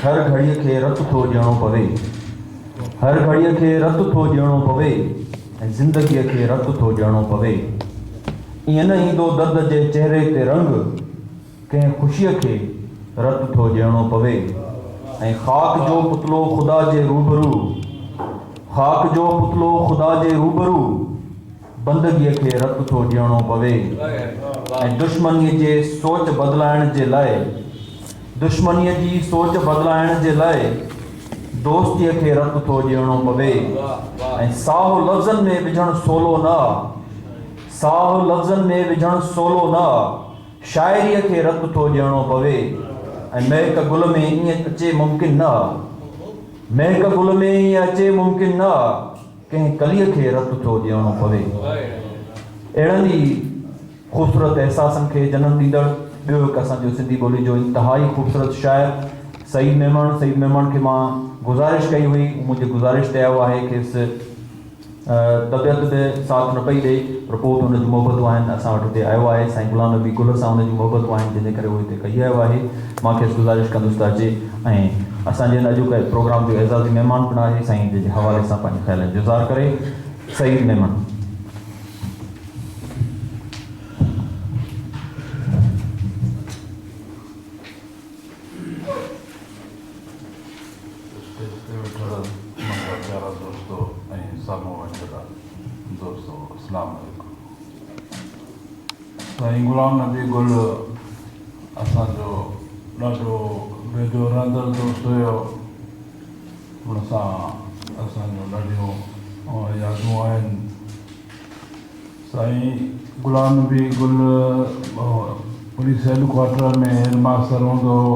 هر گهڙيء کي رت ٿو ڏيڻو پوي. هر گهڙيء کي رت ٿو ڏيڻو پوي ۽ زندگيء کي رت ٿو ڏيڻو پوي. ائين نه ايندو درد جي چهري تي رنگ، ڪنهن خوشيء کي رت ٿو ڏيڻو پوي ۽ خاڪ جو پتلو خدا جي روبرو، خاڪ جو پتلو خدا جي روبرو. بندگيء کي رت ٿو ڏيڻو پوي ۽ دشمنيء جي سوچ بدلائڻ جي لاء دشمنيء جي سوچ بدلائڻ جي لاء دوستيء کي رت ٿو ڏيڻو پوي ۽ ساهه لفظن ۾ وجهڻ سولو نه آ ساهه لفظن ۾ وجهڻ سولو نه آ شاعريء کي رت ٿو ڏيڻو پوي ۽ مهڪ گل ۾ ائين اچي ممڪن نه آ مهڪ گل ۾ ائين اچي ممڪن نه آ. ڪنهن ڪليء کي رت ٿو ڏيڻو پوي. اهڙن ئي خوبصورت احساسن کي جنم ڏيندڙ ٻيو هڪ اسان جو سنڌي ٻولي جو انتهائي خوبصورت شاعر سعيد ميمڻ سعيد ميمڻ کي مان گذارش ڪئي هئي هو منهنجي گذارش تي آيو آهي کيس طبيعت به ساٿ نه پئي ڏئي پر پوء به ان جون محبتون آهن اسان وٽ هتي آيو آهي سائين غلام نبي گل سان ان جون محبتون آهن جنهن جي ڪري هو هتي ڪهي آيو آهي مان کيس گذارش ڪندس ته اچي ۽ اسان جن اڄ ڪئي پروگرام جو اعزازي مهمان پڻ آهي سائين جي حوالي سان پنهنجي خيالن جو اظهار ڪري سعيد ميمڻ. سائين غلام نبي گل اسان جو ڏاڍو ويجهو رهندڙ دوست هيو ان سان اسان جون ڏاڍيون يادون آهن سائين Ghulam Nabi Gul police head quarter ۾ headmaster هوندو هو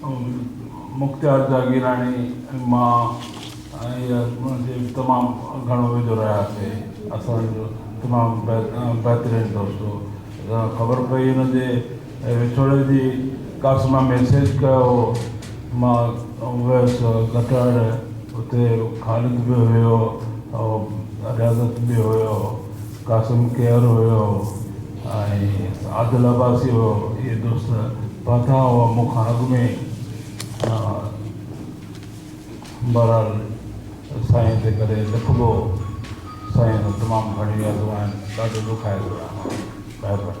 مختيار جاگيراڻي ۽ مان تمام گهڻو ويجهو رهياسي اسان جو تمام بهترين دوست هو خبر پئي ان جي وڇوڙي جي ڪاس مان ميسيج ڪيو مان ويس گٽهڙ اتي خالد به هيو رياضت به هيو قاسم ڪيئر هيو ۽ عادل عباسي هيو اهي دوست پهتا هئا مون کان اڳ ۾ بهرحال سائين تي ڪڏهن لکبو سائين تمام گهڻيون يادون آهن ڏاڍو ڏکايو رهيو آهيان